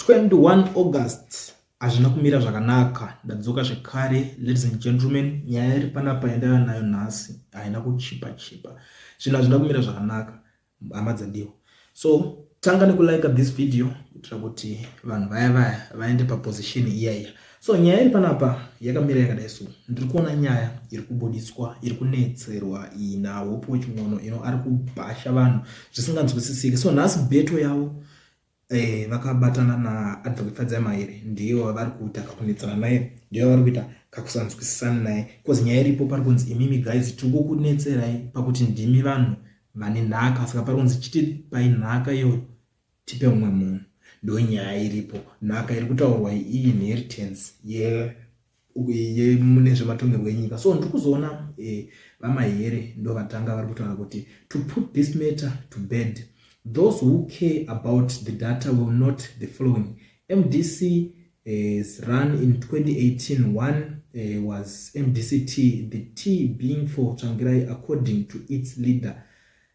21 August hazvina kumira zvakanaka ndadzoka zvekare ladies and gentlemen nyaya iri panapa yandava nayo nhasi haina kuchipa chipa zvinhu hazvina kumira zvakanaka hama dzandiwo so tanga nekulike this video kuitira kuti vanhu vaya vaya vaende paposition iya iya so nyaya iri panapa yakamira yakadai so ndiri kuona nyaya iri kubudiswa iri kunetserwa iyi nahope wechimwono ino ari kubhasha vanhu zvisinganzwisisike so nhasi beto yavo eh, vakabatana naadvocate fadzai mairi ndiyo vari kuita kakunetsana naye ndiyo vari kuita kakusanzwisisana naye bcause nyaya iripo pari kunzi imimi guys tiri kukunetserai pakuti ndimi vanhu vane nhaka saka pari kunzi chiti pai nhaka iyoyo tipe mumwe munhu ndo nyaya iripo nhaka iri kutaurwa iyi inheritance ye yeah. mune zvematongerwo enyika so ndiri kuzoona eh, vamahere ndovatanga vari kutaura kuti to put this matter to bed those who care about the data will not the following mdc eh, run in 2018 one eh, was mdct the t being for tsvangirai according to its leader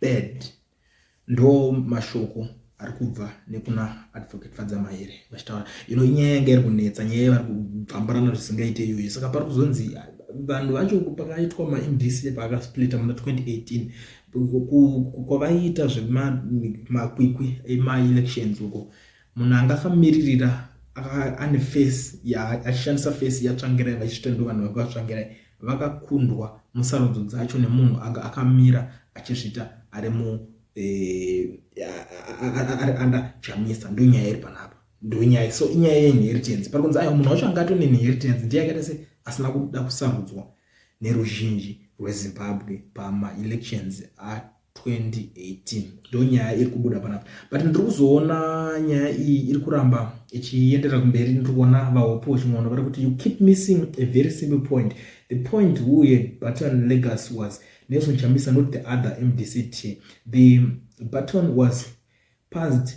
bad ndo mashoko ari kubva nekuna advocate fadzamaere vachitaura ino inyaya yanga iri kunetsa nyaya yavari kubvambarana zvisingaite iyoyo saka pari kuzonzi vanhu vacho pakaitwa maindc paakasplita muna 2018 kwavaiita zvemakwikwi emaelections uko munhu anga akamiririra ane face achishandisa face yatsvangirai vachiita ndovanhu vekwatsvangirai vakakundwa musarudzo dzacho nemunhu anga akamira achizvita ari mu eh, ari anda chamisa ndonyaya iri panapa ndonyaya so inyaya yeinheritance pari kunzi ayo munhu wacho anga atone inheritance ndiye akaita se asina kuda kusarudzwa neruzhinji rwezimbabwe pamaelections 2018 ndo nyaya iri kubuda panapa but ndiri kuzoona nyaya iyi iri kuramba ichienderera kumberi ndiri kuona vahopo vachimwaona vari kuti you keep missing a very simple point the point uye button legas was nelson chamisa not the other mdct the button was passed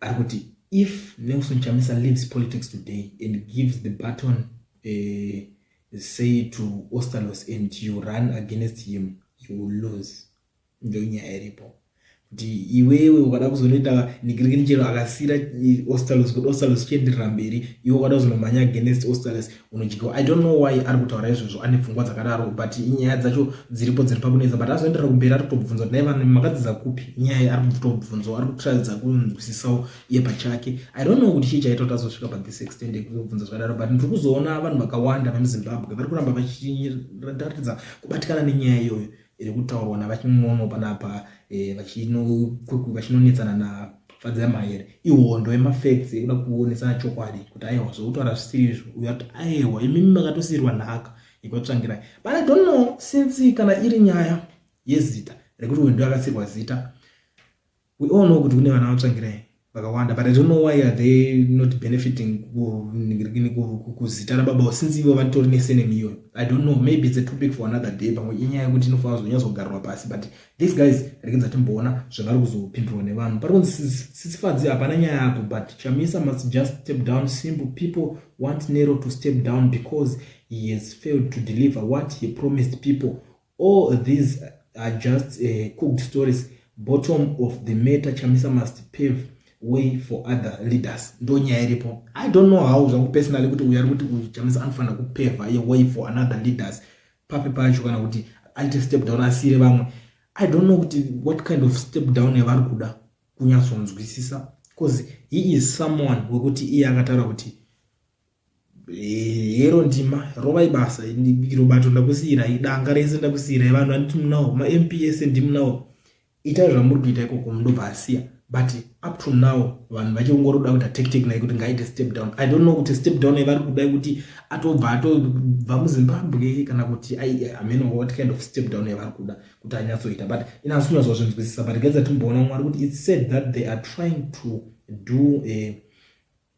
ari kuti if nelson chamisa leaves politics today and gives the button uh, say to ostalos and you run against him you will lose ndonyaya iripo kuti iwewe ukada kuzonoita nikirikini chero akasira ostalos kuti ostalos chienderera mberi iwe ukada kuzonomhanya against ostalos unodyiwa i don't know why ari kutaura izvozvo ane pfungwa dzakadaro but nyaya dzacho dziripo dziri pakunetsa but azoenderera kumberi ari kutobvunza kuti nai vanhu makadzidza kupi nyaya ari kutobvunzawo ari kutiradza kunzwisisawo iye pachake i don't know kuti chii chaita kuti azosvika pa this extend ekuzobvunza zvakadaro but ndiri kuzoona vanhu vakawanda vemuzimbabwe vari kuramba vachiratidza kubatikana nenyaya iyoyo iri kutaurwa navachimwono panapa eh, vachinonetsana nafadzira maere ihondo yemafacts yekuda kuonesana chokwadi kuti aiwa zvokutaura zvisiri izvo uyo kuti aiwa imimi makatosiyirwa nhaka yekuvatsvangirai but i don't know since kana iri nyaya yezita rekuti uyu ndoakasirwa zita we all know kuti kune vana vatsvangirai vakawanda but i don't know why are they not benefiting kuzita rababa since ivo vatori nesenemi iyoyo i don't know maybe its a topic for another day pamwe inyaya yekuti inofanira kuzonyazogarwa pasi but these guys rekedza timboona zvavari kuzopindurwa nevanhu pari kunzi sisifadzi hapana nyaya apo but chamisa must just step down simple people want nero to step down because he has failed to deliver what he promised people All these are just uh, cooked stories. Bottom of the matter, Chamisa must pave way for other leaders. Ndo nyaya iripo. I don't know how zvangu personally kuti uyu ari kuti uyu Chamisa anofanira kupeva a way for another leaders. Papi pacho kana kuti aite step down asiyire vamwe. I don't know kuti what kind of step down yavari kuda kunyatsonzwisisa because he is someone wekuti iye akataura kuti Eh, yero ndima rova ibasa iro bato ndakusiyirai danga rese ndakusiyirai vanhu vanditi munawo mamp ese ndimunawo itai zvamuri kuita ikoko mundobva asiya but up to now vanhu vachingoroda kuita tactic nai kuti ngaite step down i don't know kuti step down ivari kuda kuti atobva atobva muzimbabwe kana kuti ameno what kind of step down ivari kuda kuti anyatsoita but inasi kunyatswa zvinzwisisa but gaidza timboona mwari kuti its said that they are trying to do a eh,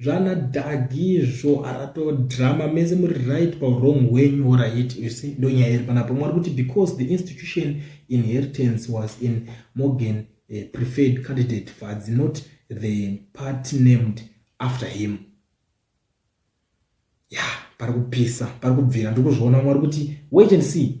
zvana dagi izvo arato drama mese muri right pawrong wenyu orit you see ndo nyaya iri panapa mwe ari kuti because the institution inheritance was in morgan uh, preferred candidate fadzi not the part named after him ya pari kupisa pari kubvira ndiri kuzviona mwari kuti wait and see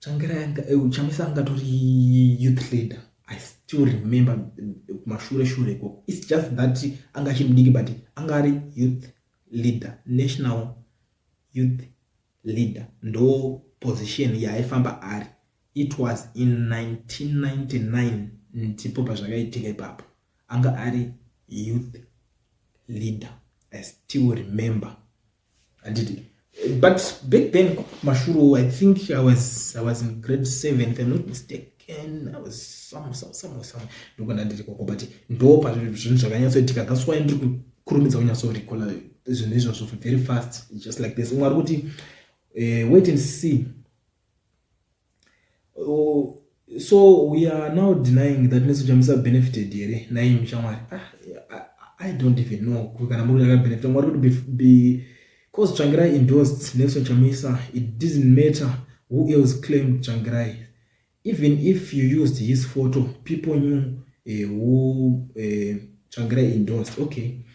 Changira yanga eh, Chamisa anga tori youth leader. I still remember eh, mashure shure ko. It's just that anga chimdiki but anga ari youth leader, national youth leader. Ndo position yaifamba ari. It was in 1999 ndipo pazvakaitika ipapo. Anga ari youth leader. I still remember. handiti but back then mashuro i think i was, I was in grade seven if i'm not mistaken i was somewhere somewhere somewhere somewhere ndiko ndandiri koko but ndo pazvinhu zvakanyatsoitika that's why ndiri kukurumidza kunyatsorecolla zvinhu izvozvo very fast just like this umwe ari kuti uh, wait and see oh, so we are now denying that nesu chamisa benefited here nai mshamwari ah, ah, i don't even know kana muri akabenefita mwari kuti be, be cause tsvangirai endorsed nelson chamisa it didn't matter who else claimed tsvangirai even if you used his photo people knew uh, who uh, tsvangirai endorsed okay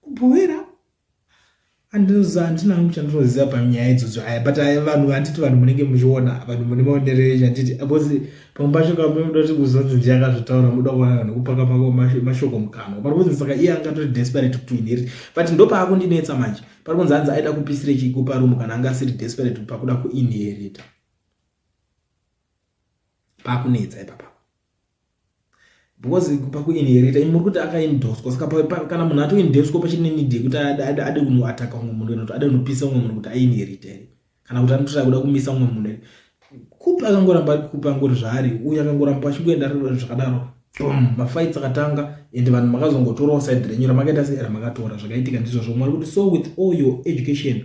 kubhowera andinoziva handina hangu chandinoziva panyaya idzodzo aya but aya vanhu handiti vanhu munenge muchiona vanhu mune maonero enyu handiti because pamwe pacho kamwe muda kuti kuzonzi ndiye akazvitaura muda kuona vanhu kupaka pako mashoko mukanwa pari kunzi saka iye anga tori desperate to inherit but ndo paakundinetsa manje pari kunzi hanzi aida kupisira chikupa rumu kana anga asiri desperate pakuda kuinherita pakunetsa ipapa because pakuinherita imi muri kuti akaindoswa saka kana munhu atoindeswa pachine need yekuti ade kunoataka umwe munhu kana kuti ade kunopisa umwe munhu kuti ainherita here kana kuti anototi akuda kumisa umwe munhu here kupi akangoramba ari kupi angori zvaari uyu akangoramba achingoenda zvakadaro bom mafights akatanga and vanhu makazongotorawo side renyu ramakaita sei ramakatora zvakaitika ndizvozvo mwari kuti so with all your education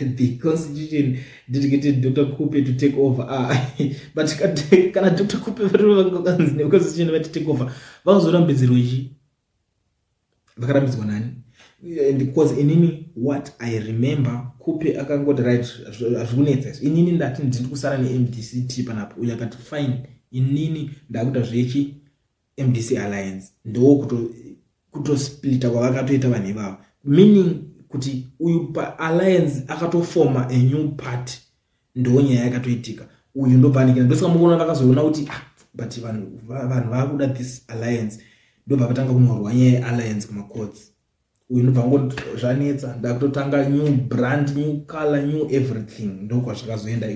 the constitution didn't get it, Dr. Kupe to take over. Ah, but kana Dr. Kupe vakanzi ne constitution vati take over, vakazorambidzirwa ichi. Vakarambidzwa nani? And because inini what I remember Kupe akangoti right azvikunetsa izvi. Inini ndati ndiri kusara neMDCT panapo uyo akati fine inini ndakuita zvechi mdc alliance ndowo kutosplita kuto kwavakatoita vanhu ivavo meaning kuti uyu paalliance akatofoma a new party ndoo nyaya yakatoitika uyu ndopanikira ndosaka mukuona vakazoona kuti ah, but vanhu vanhu vakuda this alliance ndobva vatanga kunorwa nyaya yealliance kumacourts uyu ndobva ngoti zvanetsa ndakutotanga new brand new color new everything ndokwazvakazoenda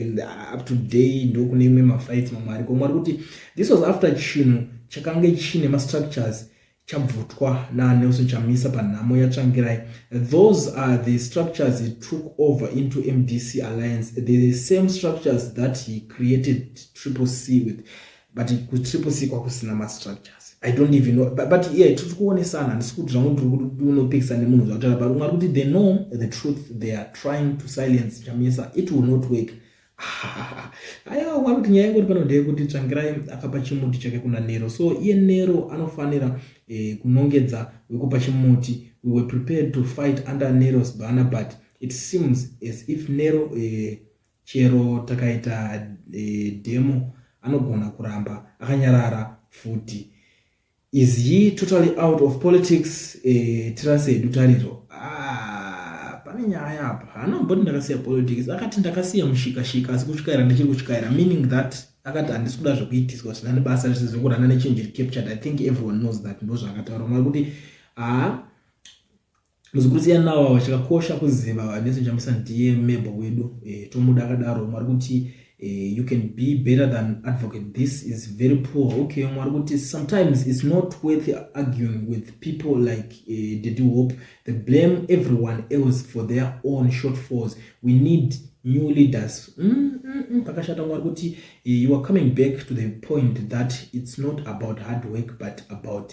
up to day ndokune imwe mafights mamwe ariko mwari kuti this was after chinhu chakange chine mastructures chabvutwa nanelson chamisa panhamo yatsvangirai those are the structures he took over into mdc alliance the same structures that he created triple c with but kutriple c kwakusina mastructures i don't even know but, but yeah tiri kuonesana handisi kuti zvangu ndiri kuti unopikisa nemunhu zvakutaura but ungari kuti they know the truth they are trying to silence chamisa it will not work aiwa wari kuti nyaya ingoti pano ndeyekuti tsvangirai akapa chimuti chake kuna nero so iye nero anofanira eh, kunongedza wekupa chimuti we were prepared to fight under neros banner but it seems as if nero eh, Chero takaita e, demo anogona kuramba akanyarara futi. Is he totally out of politics? E, tirase hedu tariro. Ah, pane nyaya apa. Haana mboti ndakasiya politics. Akati ndakasiya mushikashika asi kutyaira ndichiri kutyaira meaning that akati handisi kuda zvekuitiswa zvisina nebasa zvese zvekurana nechange captured. I think everyone knows that ndozvaakataura mwari kuti haa ah, Muzukuru siya nawo awa chakakosha kuziva vanese chamisa ndiye mebo wedu eh, tomuda akadaro mwari kuti eh, you can be better than advocate this is very poor okay mwari kuti sometimes it's not worth arguing with people like eh, daddy hope they blame everyone else for their own shortfalls we need new leaders mm, mm, mm, pakashata mwari kuti eh, you are coming back to the point that it's not about hard work but about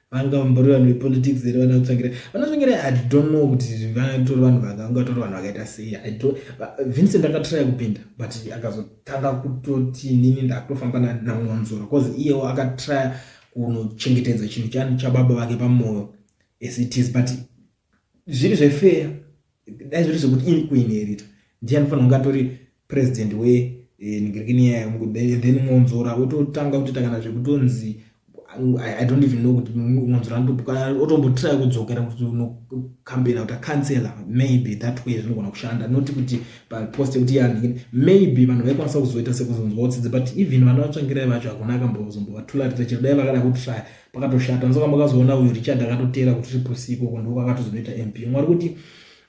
vanga vambori vanhu vepolitics here vana kutsvangira vana tsvangira i don't know kuti vatori vanhu vanga vanga vatori vanhu vakaita sei i don't vincent akatraya kupinda but akazotanga kutoti nini ndakutofamba namwanzura bcause iyewo akatraya kunochengetedza chinhu chani chababa vake pamwoyo as it is but zviri zvefeya dai zviri zvekuti ini kuinherita ndiye anofanira kunge atori president wenhingirikini eh, yayo then mwonzora ototanga kutita kana zvekutonzi i don't even know kuti mwonzora otombotry kudzokera kutokambena kuti acancela maybe that way zvinogona kushanda not kuti papost yekuti yanhingini maybe vanhu vaikwanisa kuzoita sekuzonzwa utsitsi but even vana vatsvangirai vacho hakuna akambozombovatula rita chero dai vakada kutrya pakatoshata ndoka makazoona uyu richard akatoteera kuti ripusi ikoko ndoko akatozonoita mp mwari kuti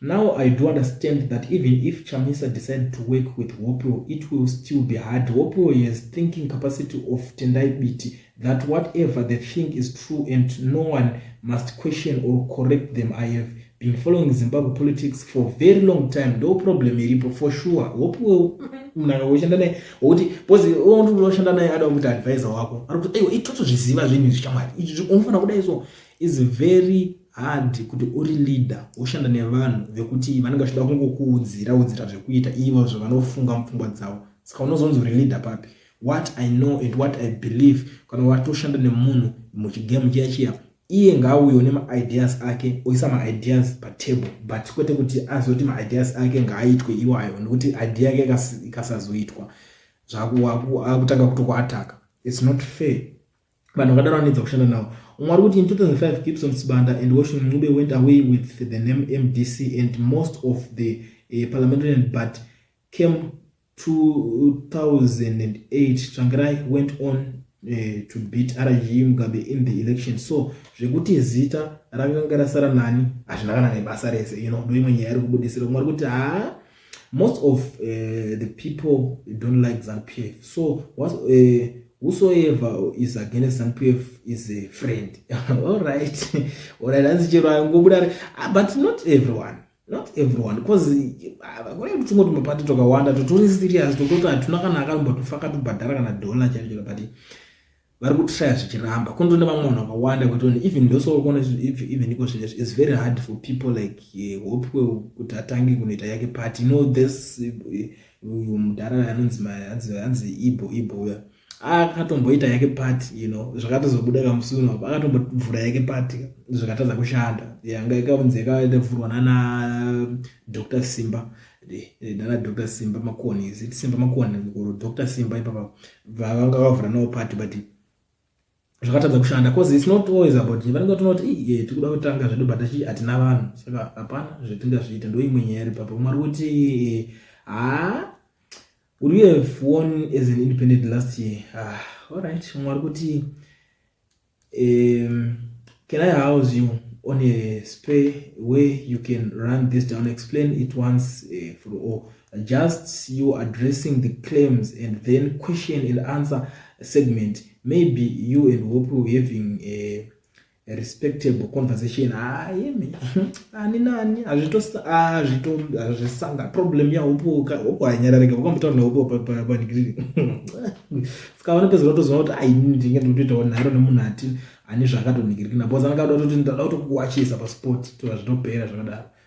now i do understand that even if chamisa decide to work with hopeo it will still be hard hopeo has thinking capacity of tendai biti that whatever the thing is true and no one must question or correct them i have been following zimbabwe politics for very long time ndo problem iripo for sure wopiwe mnaka woshanda naye wokuti bcoz oshanda naye ada kuti advisor wako ari kuti aiwa itoto zviziva zvinhu izvi chamwari izvi unofanira kudai so is very hard kuti uri leader woshanda nevanhu vekuti vanenge vachida kungokuudzira udzira zvekuita ivo zvavanofunga mupfungwa dzavo saka unozonzi uri leader papi what i know and what i believe kana watoshanda nemunhu muchigame chiya chiya iye ngaauyo nemaideas ake oisa maideas patable but kwete kuti azoti maideas ake ngaaitwe iwayo nekuti idea yake ikasazoitwa zvaakutanga kutokuataka its not fair vanhu vakadaro vanoedza kushanda navo umwe ari kuti in 2005 gibson sibanda and washington ncube went away with the name mdc and most of the uh, parliamentarian but came 2008 Tsvangirai went on uh, to beat RG Mugabe in the election so zvekuti zita rakanga rasara nani hazvina kana nebasa rese you know ndoimwe nyaya iri kubudisira kumwe kuti haa most of uh, the people don't like ZANPF so what, uh, eh, whosoever is against ZANPF is a friend all right all right hanzi chero angobuda ah, but not everyone not everyone bcause kune tuchimwe tumapati twakawanda totori serious tokoti hatuna kana akambo tofaka tobhadhara kana dona chaicho but vari kutraya zvichiramba kuno tone vamwe vanhu vakawanda kutoni even ndosokuona even iko zvinhu is very hard for people like eh, hope kuti atange kunoita yake party no this eh, uyu mudhara anonzi anzi ibo ibo uya akatomboita yake party you know zvakatozobuda kamusunu apo akatombovhura yake party zvakatadza kushanda yanga ikaunzi yakavhurwa nana dr simba nana dr simba makoni is it simba makoni or dr simba ipapa vavanga vakavhura navo party but zvakatadza kushanda cause its not always about vanenge tonoti iye tikuda kutanga zvedu but achi hatina vanhu saka hapana zvetingazviita ndoimwe nyaya iri papa mwari kuti ha would you have won as an independent last year ah, allright mwari kuti um, can i house you on a spare way you can run this down explain it once uh, for all Just you addressing the claims and then question and answer segment maybe you and hope you having a respectable conversation ayemi ah, ani nani hazvitozvisanga ah, problem yahopoka hopo hanyararika vakambotaura nahopo panikiriri ska vanopedza vatoziva kuti aini ndinge ndinotoitawo nharo nemunhu ati ani zvaakatonikirikina bcause anenge ada kutoti ndada kutokuwachisa pasport tozvitopera zvakadaro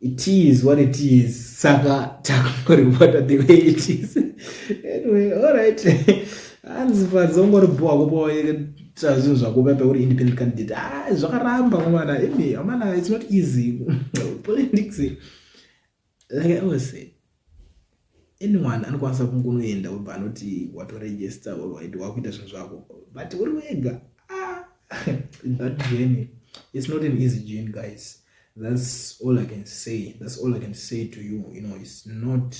it is what it is saka takungoripota the way it is anyway alright hanzi padzongoribowa kupoita zvinhu zvakupa peuri independent candidate ah, zvakaramba mwana imi amana it's not easy politics like i always say anyone anokwanisa kungunoenda obva anoti watoregister or waiti wakuita zvinhu zvako but uri wega ah, that journey it's not an easy journey guys that's all i can say that's all i can say to you you know it's not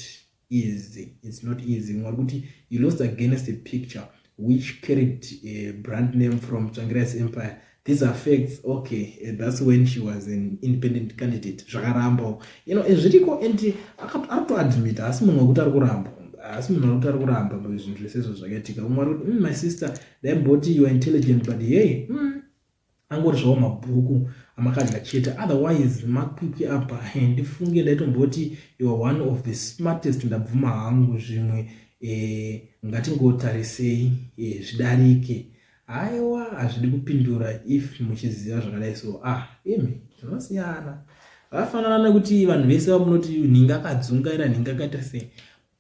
easy it's not easy ngoba kuti you lost against the picture which carried a brand name from Tsvangirais Empire. These are facts. Okay, eh, that's when she was an independent candidate. Zvakarambo. You know, ezviriko and akato admit asi munhu wekuti ari kuramba. Asi munhu wekuti ari kuramba zvinhu zvese izvo zvakaitika. Umwe ari kuti, mm, my sister, dai mboti you are intelligent but hey, mm, angori zvavo mabhuku amakadya chete otherwise makwikwi apa ndifunge ndaitomboti youare one of the smartest ndabvuma hangu zvimwe eh, ngatingotarisei eh, zvidarike haiwa hazvidi kupindura if muchiziva zvakadai so ah imi zvinosiyana vafanana nekuti vanhu vese vamunoti nhinga akadzungaira nhinga akaita sei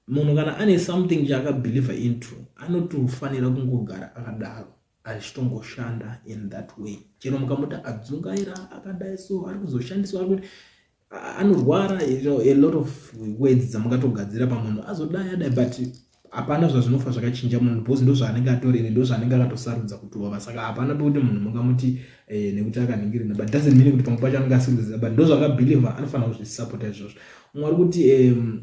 munhu kana ane something chaakabelieve into anotofanira kungogara akadaro achitongoshanda in that way chero mukamuti adzungaira akadai so ari kuzoshandiswa kuti anorwara a lot of words dzamungatogadzira pamunhu azodai adai but hapana zvazvinofa zvakachinja munhu because ndo zvaanenge atorere ndo zvaanenge akatosarudza kutova saka hapana pekuti munhu mungamuti eh, nekuti akaningirina but doesn't mean kuti pamwe pacho anenge asikuziva but ndo zvaakabelieve anofanira kuzvisapota izvozvo mwari kuti um,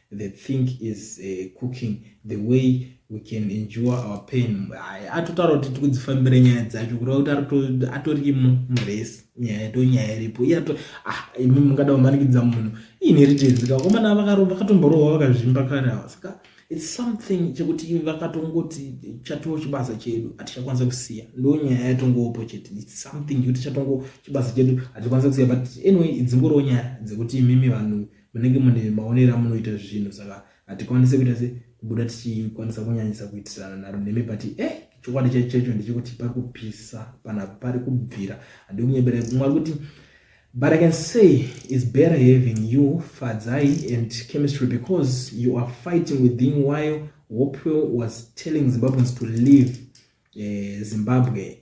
the thing is uh, cooking the way we can endure our pain atotaura kuti tikudzifambira nyaya dzacho kureva kuti atori muresi nyaya to nyaya iripo iye ato ah, imi mungada kumanikidza munhu iine ritezika komana vakatomborohwa vakazvimba kare ava saka its something chekuti vakatongoti chatowo chibasa chedu hatichakwanisa kusiya ndo nyaya yatongoopo chete its something yekuti chatongo chibasa chedu hatikwanisa kusiya but anyway dzingorowo nyaya dzekuti imimi vanhu munenge mune maonero amunoita zvinhu saka hatikwanise kuita se kubuda tichikwanisa kunyanyisa kuitirana naro nemi but eh chokwadi chaicho chaicho ndechekuti pari kupisa pana pari kubvira handi kunyebera mwari kuti but i can say is better having you fadzai and chemistry because you are fighting within while hopewell was telling zimbabweans to leave uh, zimbabwe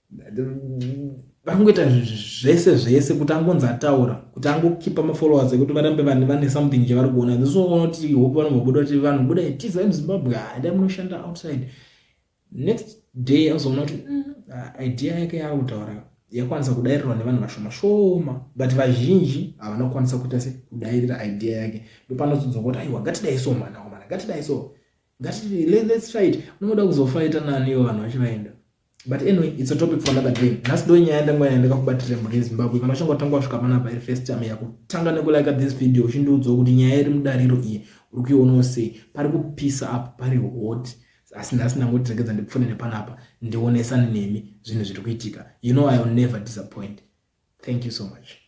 vangoita zvese zvese kuti angonzi ataura kuti angokipa mafollowers ekuti varambe vanhu vane something chavari kuona this unoona kuti hope vanombobuda kuti vanhu buda tiza muzimbabwe hada ah, munoshanda outside next day azoona kuti mm, ah, idea yake yaakutaura yakwanisa kudairirwa nevanhu vashoma shoma but vazhinji havana kukwanisa kuita se kudairira idea yake ndopanozodzwa kuti aiwa ngatidai so mwana wamana ngatidai so ngati let's fight unoda kuzofaita nani ivo vanhu vachivaenda but anyway it's a topic for another day nhasi ndo nyaya ndanga yaendeka kubatira mhuri yezimbabwe kana uchanga watanga wasvika panapa iri first time yakutanga nekulike this video uchindiudzawo kuti nyaya iri mudariro iyi uri kuionawo sei pari kupisa apo pari hot asi nhasi ndangoti regedza ndipfune nepanapa ndionesane nemi zvinhu zviri kuitika you know i will never disappoint thank you so much